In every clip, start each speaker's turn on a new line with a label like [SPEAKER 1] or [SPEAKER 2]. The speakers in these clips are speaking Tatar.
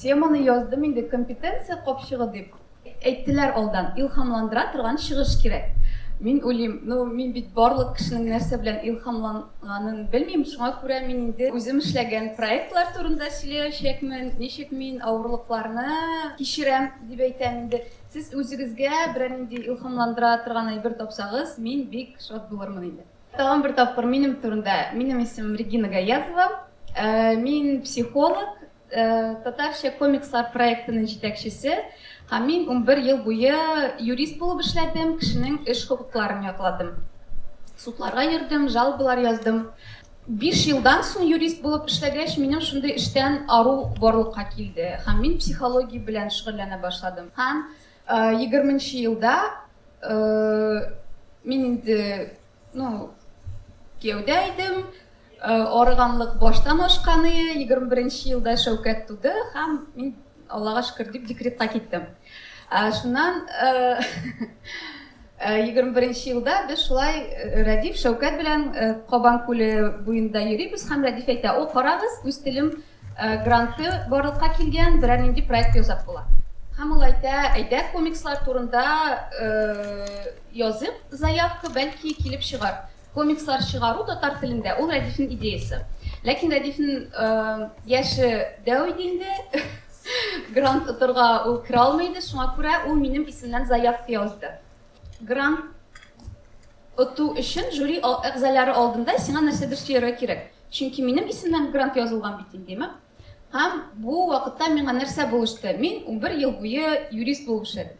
[SPEAKER 1] Теманы яздым инде компетенция капчыгы дип. Әйттеләр алдан, илхамландыра торган чыгыш кирәк. Мин уйлыйм, ну мин бит барлык кешенең нәрсә белән илхамланганын белмим, шуңа күрә мин инде үзем эшләгән проектлар турында сөйләячәкмен, ничек мин авырлыкларны кичерәм дип әйтәм инде. Сез үзегезгә берәр нинди илхамландыра торган әйбер тапсагыз, мин бик шат булырмын инде. Тагын бер тапкыр минем турында. Минем исемем Регина Гаязова. Мин психолог, татарча комикслар проектының җитәкчесе. Һәм мин унбер ел буе юрист булып эшләдем, кешенең эш хокукларын якладым. Судларга йөрдем, жалобалар яздым. Биш елдан соң юрист булып эшләгәч, минем шундый эштән ару барлыкка килде. Һәм мин психология белән шөгыльләнә башладым. Һәм Егерменче елда мин инде, ну, кияүдә идем, арыганлык баштан ашканы, егерме беренче елда Шәүкәт туды һәм мин Аллага шөкер дип декретка киттем. Шуннан егерме беренче елда без шулай Рәдиф Шәүкәт белән Кабан күле буенда йөрибез һәм Рәдиф әйтә, о, карагыз, үз телем Гранты барлыкка килгән берәр нинди проект ясап була. Һәм ул әйтә, әйдә, комикслар турында языйк заявка, бәлки килеп чыгар. Комикслар чыгару татар телендә, ул Рәдифнең идеясе. Ләкин Рәдифнең яше дәү иде инде, грант отырга ул керә алмый иде, шуңа күрә ул минем исемнән заявка язды. Грант оту өчен жюри әгъзалары алдында сиңа нәрсәдер сөяргә кирәк. Чөнки минем исемнән грант язылган бит инде, димәк. Һәм бу вакытта миңа нәрсә булышты? Мин унбер ел буе юрист булып эшләдем.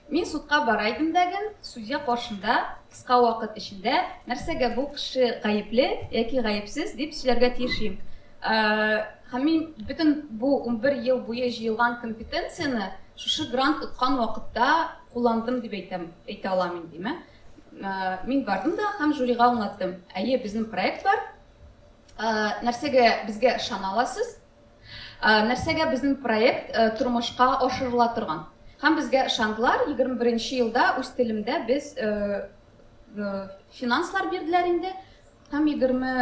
[SPEAKER 1] Мин судка бара идем дә ген, судья каршында кыска вакыт эчендә нәрсәгә бу кеше гаепле яки гаепсез дип сөйләргә тиеш идем. Һәм мин бөтен бу унбер ел буе җыелган компетенцияне шушы грант откан вакытта Кулландым дип әйтәм, әйтә алам индеме? Мин бардым да һәм жюрига аңлаттым. Әйе, безнең проект бар. Нәрсәгә безгә ышана аласыз? Нәрсәгә безнең проект тормышка ашырыла торган? Һәм безгә ышандылар. 21 елда үз телемдә без финанслар бирделәр инде. Һәм егерме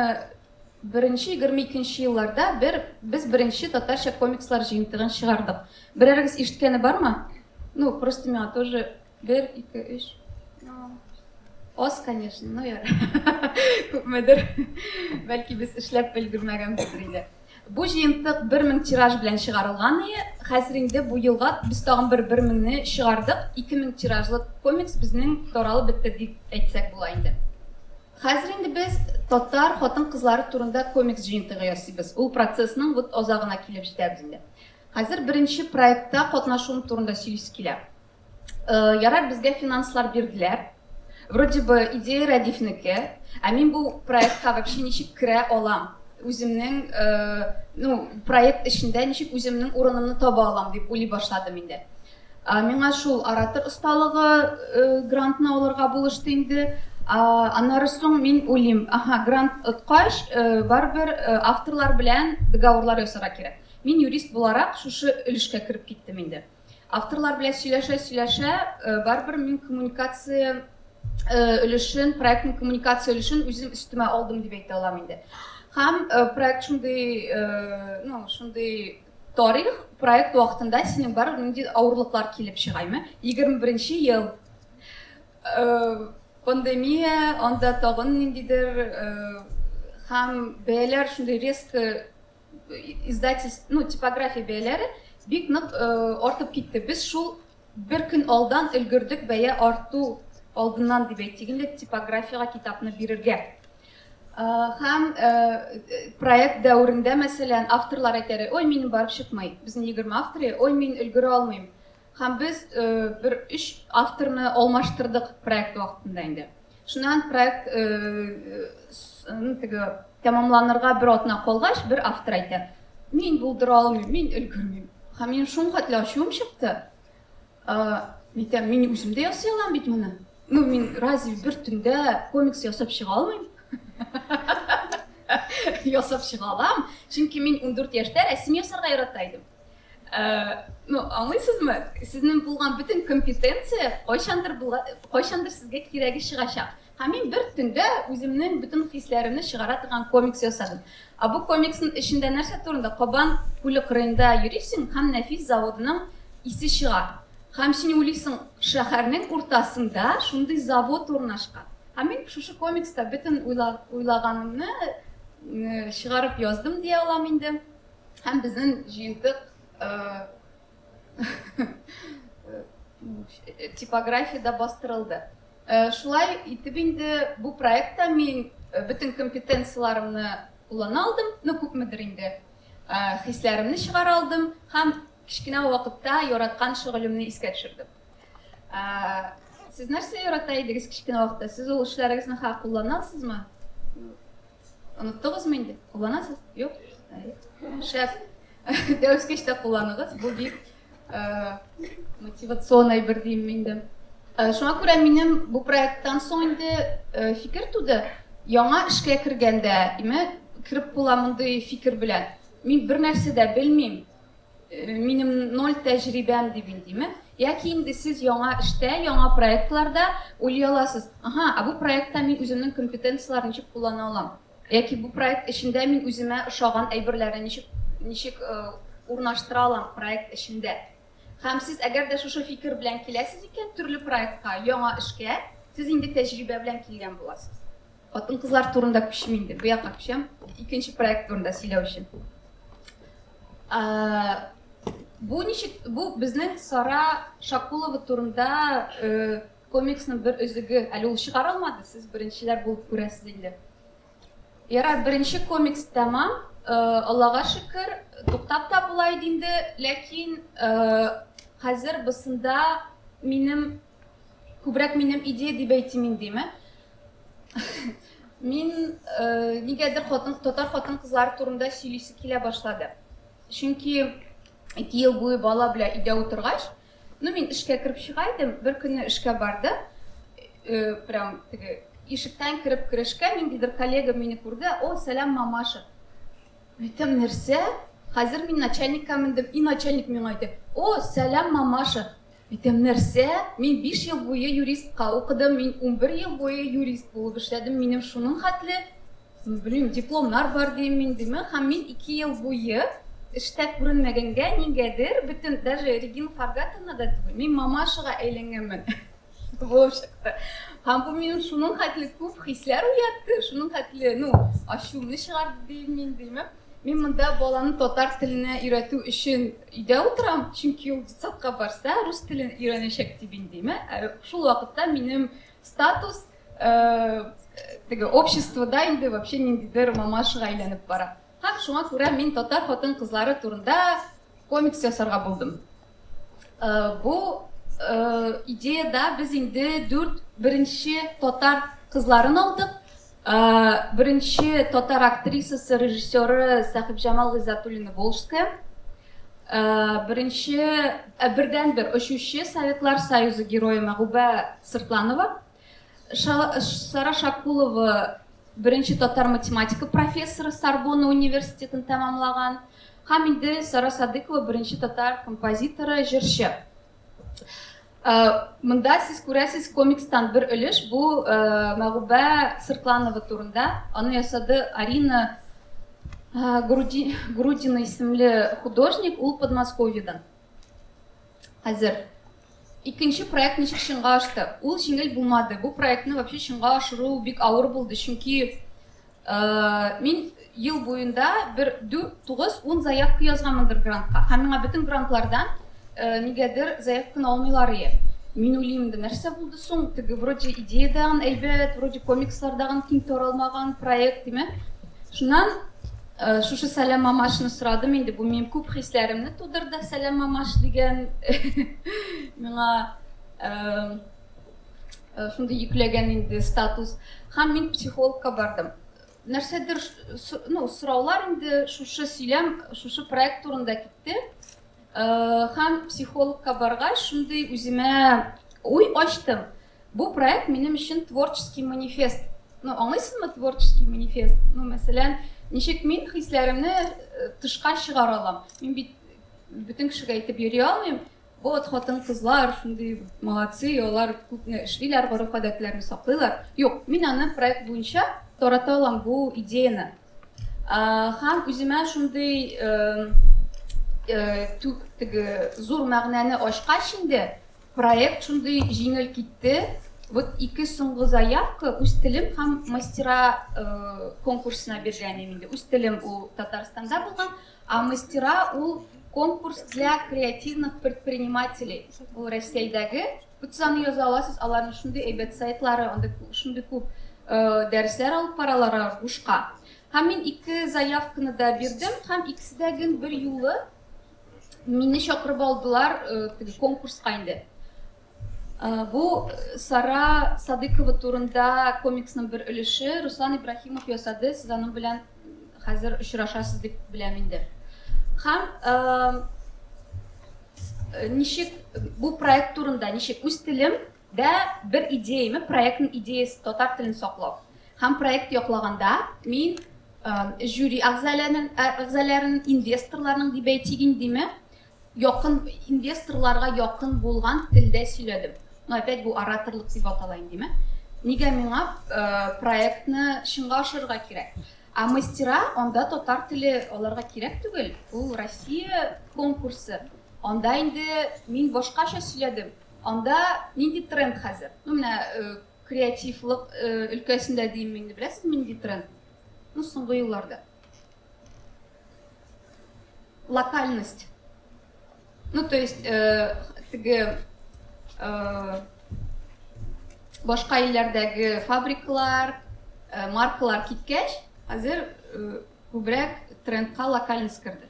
[SPEAKER 1] беренче, егерме икенче елларда бер, без беренче татарча комикслар җыентыгын чыгардык. Берәрегез ишеткәне бармы? Ну, просто миңа тоже бер, ике, өч. Аз, конечно, но яр. Күпмедер. Бәлки без эшләп өлгермәгәнбездер инде. Бу җыентык 1000 тираж белән чыгарылган иде. Хәзер инде бу елга без тагын бер 1000-не чыгардык. 2000 тиражлы комикс безнең таралып бетте дип әйтсәк була инде. Хәзер инде без татар хатын-кызлары турында комикс җыентыгы ясыйбыз. Ул процессның вот азагына килеп җитәбез инде. Хәзер беренче проектта катнашуым турында сөйлисе килә. Ярар, безгә финанслар бирделәр. Вроде бы идея Рәдифнеке, ә мин бу проектка вообще ничек керә алам? үземнең э, ну, проект эчендә ничек үземнең урынымны таба алам дип уйлый башладым инде. Миңа шул оратор осталыгы грантны алырга булышты инде. Аннары соң мин уйлыйм, аһа, грант откач, барыбер авторлар белән договорлар ясарга кирәк. Мин юрист буларак шушы өлешкә кереп киттем инде. Авторлар белән сөйләшә-сөйләшә, барыбер мин коммуникация өлешен, проектның коммуникация өлешен үзем өстемә алдым дип әйтә алам инде. Һәм проект шундый, ну, шундый Тарих, проект вакытында синең бар нинди авырлыклар килеп чыгаймы? 21-нче ел. Пандемия, анда тагын ниндидер һәм бәяләр шундый резко издательство, ну, типография бәяләре бик нык артып китте. Без шул бер көн алдан өлгердек бәя арту алдыннан дип әйтик инде типографиягә китапны бирергә. Һәм проект дәверендә, мәсәлән, авторлар әйтәре, ой, минем барып чыкмый, безнең егерме авторы, ой, мин өлгерә алмыйм. Һәм без бер өч авторны алмаштырдык проект вакытында инде. Шуннан проект теге тәмамланырга бер атна калгач, бер автор әйтә, мин булдыра алмыйм, мин өлгермим. Һәм минем шул хәтле ачуым чыкты. Митәм, мин үзем дә ясый алам бит моны. Ну, мин разве бер төндә комикс ясап чыга алмыйм? Ясап чыга алам, чөнки мин 14 яшьтә рәсем ясарга ярата идем. Ну, аңлыйсызмы? Сезнең булган бөтен компетенция кайчандыр кайчандыр сезгә кирәге чыгачак. Һәм мин бер төндә үземнең бөтен хисләремне чыгара торган комикс ясадым. Ә бу комиксның эчендә нәрсә турында? Кабан күле кырыенда йөрисең һәм нәфис заводының исе чыга. Һәм син уйлыйсың, шәһәрнең уртасында шундый завод урнашкан. Һәм мин шушы комикста бөтен уйлаганымны чыгарып яздым дия алам инде. Һәм безнең җыентык Типография да бастырылды. Э, шулай итеп инде бу проектта мин э, бөтен компетенцияләремне куллана алдым, ну күпмедер инде э, хисләремне чыгара алдым һәм кечкенә вакытта яраткан шөгылемне искә төшердем. Сез нәрсә ярата идегез кечкенә вакытта? Сез ул эшләрегезне ха кулланасызмы? Оныттыгызмы инде? Кулланасыз? Юк. Шәп. Дәвескеч тә кулланыгыз, бу бик мотивацион әйбер дим инде. Шуңа күрә минем бу проекттан соң инде фикер туды, яңа эшкә кергәндә, име, кереп була мондый фикер белән. Мин бер нәрсә дә белмим, минем ноль тәҗрибәм дип инде, яки инде сез яңа эштә, яңа проектларда уйлый аласыз, ага, ә бу проектта мин үземнең компетенцияләрне ничек куллана алам? Яки бу проект эчендә мин үземә ошаган әйберләрне ничек ничек урнаштыра алам проект эчендә? Һәм сез әгәр дә шушы фикер белән киләсез икән төрле проектка, яңа эшкә, сез инде тәҗрибә белән килгән буласыз. Хатын-кызлар турында күчим инде, бу якка күчәм, икенче проект турында сөйләү өчен. Бу ничек, бу безнең Сара Шакулова турында Комиксның бер өзеге, әле ул чыгарылмады, сез беренчеләр булып күрәсез инде. Ярар, беренче комикс тәмам, Аллага шөкер, туктап та була иде инде, ләкин хәзер бысында минем күбрәк минем идея дип әйтим индеме? Мин нигәдер хатын татар хатын кызлар турында сөйлисе килә башлады. Чөнки 2 ел буе бала белән өйдә утыргач, Ну мин эшкә кереп чыга идем, бер көнне эшкә барды, э, прям теге ишектән кереп керешкә ниндидер коллега мине күрде, о, сәлам, мамаша. Әйтәм, нәрсә? Хәзер мин начальникка мендем, и начальник миңа әйтә, о, сәлам, мамаша. Әйтәм, нәрсә? Мин 5 ел буе юристка укыдым, мин 11 ел буе юрист булып эшләдем, минем шуның хәтле Белмим, дипломнар бар дим мин диме, һәм мин ике ел буе эштә күренмәгәнгә нигәдер, бөтен, даже Регина Фаргатовна да түгел, мин мамашага әйләнгәнмен булып чыкты. Һәм бу минем шуның хәтле күп хисләр уятты, шуның хәтле, ну, ачуымны чыгарды дим мин диме. Мин монда баланы татар теленә өйрәтү өчен өйдә утырам, чөнки ул детсадка барса, рус телен өйрәнәчәк дип индиме. Ә шул вакытта минем Статус теге обществода инде вообще ниндидер мамашыга әйләнеп бара. Һәм шуңа күрә мин татар хатын-кызлары турында комикс ясарга булдым. Бу идеяда без инде дүрт беренче татар кызларын алдык. Ә беренче татар актрисасы, режиссеры Сәхибҗамал Гыйззәтуллина Волжская, ә беренче, ә бердәнбер очучы Советлар Союзы Герое Мәгубә Сыртланова, Ша, Сара Шакулова беренче татар математика профессоры Сорбонна университетын тәмамлаган, һәм инде Сара Садыйкова беренче татар композиторы, җырчы. Монда сез күрәсез комикстан бер өлеш, бу Мәгубә Сыртланова турында. Аны ясады Арина Грудина исемле художник, ул Подмосковьедан. Хәзер икенче проект ничек чынга ашты? Ул җиңел булмады. Бу проектны вообще чынга ашыру бик авыр булды, чөнки Мин ел буенда бер дүрт, тугыз, ун заявка язганмындыр грантка. Һәм миңа бөтен грантлардан нигәдер заявканы алмыйлар ие. Мин уйлыймды, нәрсә булды соң, теге вроде идея дагын әйбәт, вроде комикслар дагын киң таралмаган проект, диме. Шуннан шушы Сәлам мамашны сорадым инде, бу минем күп хисләремне тудырды, Сәлам мамаш дигән миңа Э, шундый йөкләгән инде статус һәм мин психологка бардым нәрсәдер ну сораулар инде шушы сөйләм шушы проект турында китте э, һәм психологка баргач шундый үземә уй ачтым бу проект минем өчен творческий манифест ну аңлыйсызмы творческий манифест ну мәсәлән ничек мин хисләремне э, тышка чыгара алам мин бит бөтен кешегә әйтеп йөри алмыйм Вот хатын-кызлар шундый молодцы, алар күпне эшлиләр, гореф-гадәтләрне саклыйлар. Юк, мин аны проект буенча тарата алам бу идеяны. Һәм үземә шундый түк теге зур мәгънәне ачкач инде, проект шундый җиңел китте. Вот ике соңгы заявка үз телем һәм мастера конкурсына биргән инде. Үз телем ул Татарстанда булган, А мастера ул конкурс для креативных предпринимателей. Ул Рәсәйдәге, үтсә аны яза аласыз, аларның шундый әйбәт сайтлары, анда шундый күп э, дәресләр алып баралар бушка. Һәм мин ике заявканы да бирдем, һәм икесе дә гел бер юлы мине чакырып алдылар э, теге конкурска инде. Бу Сара Садыкова турында комиксның бер өлеше. Руслан Ибраһимов ясады, сез аның белән хәзер очрашасыз дип беләм инде. Һәм ничек бу проект турында, ничек үз телем дә бер идеяме, проектның идеясы татар телен саклау. Һәм проект яклаганда мин жюри әгъзаларын, инвесторларның дебәйтигин диме, Якын, инвесторларга якын булган телдә сөйләдем. Ну опять бу ораторлык дип атала инде, димме? Нигә миңа проектны чынга ашырырга кирәк? Ә мастера анда татар теле аларга кирәк түгел, ул Россия конкурсы. Анда инде мин башкача сөйләдем. Анда нинди тренд хәзер? Ну менә креативлык өлкәсендә димме инде, беләсезме нинди тренд? Ну соңгы елларда. локальность. Ну, то есть, э, теге, э, башка илләрдәге фабрикалар, э, маркалар киткәч, хәзер э, күбрәк трендка локальность керде.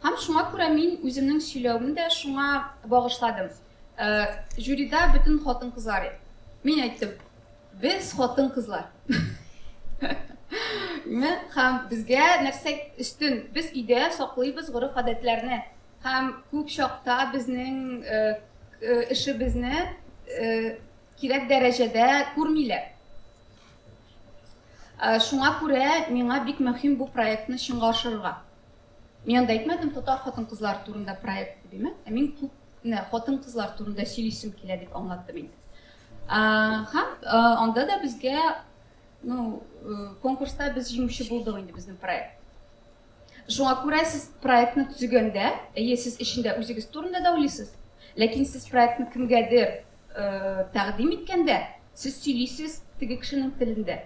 [SPEAKER 1] Һәм шуңа күрә мин үземнең сөйләвемне дә шуңа багышладым. Э, жюрида бөтен хатын-кызлар. Мин әйттем, Без хатын-кызлар. Ме, хам, безгә нәрсә өстен? Без идә саклыйбыз горыф-гадәтләрне. Хам, күп чакта безнең э, э, эше безне э, кирәк дәрәҗәдә күрмилә. Э, шуңа күрә миңа бик мөһим бу проектны чынга ашырырга. Мин анда әйтмәдем, татар хатын-кызлары турында проект дип, ә мин күп кенә хатын-кызлар турында сөйлисем килә дип аңлаттым инде. Һәм анда да безгә, ну, конкурста без җиңүче булдык инде безнең проект. Шуңа күрә сез проектны төзегәндә, әйе, сез эчендә үзегез турында да уйлыйсыз, ләкин сез проектны кемгәдер э, тәкъдим иткәндә, сез сөйлисез теге кешенең телендә.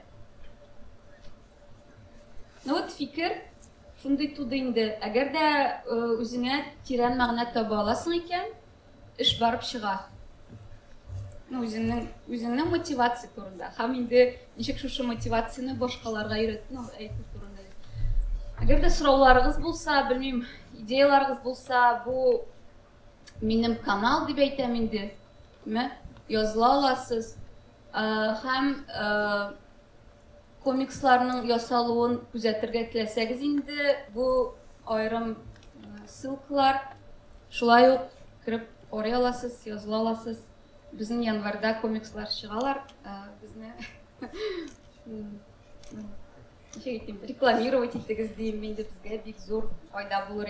[SPEAKER 1] Ну вот фикер шундый туды инде. Әгәр дә үзеңә тирән мәгънә таба аласың икән, эш барып чыга. Ну, үзеңнең үзеңнең мотивация турында. Һәм инде ничек шушы мотивацияне башкаларга өйрәт, ну, әйтү турында. Әгәр дә сорауларыгыз булса, белмим, идеяларыгыз булса, бу минем канал дип әйтәм инде. Ме? Языла аласыз. Һәм Комиксларның ясалуын күзәтергә теләсәгез инде, бу аерым ссылкалар. Шулай ук кереп карый аласыз, языла аласыз. Безнең январьда комикслар чыгалар, безне ничек әйтим, рекламировать итегез дим, инде безгә бик зур файда булыр.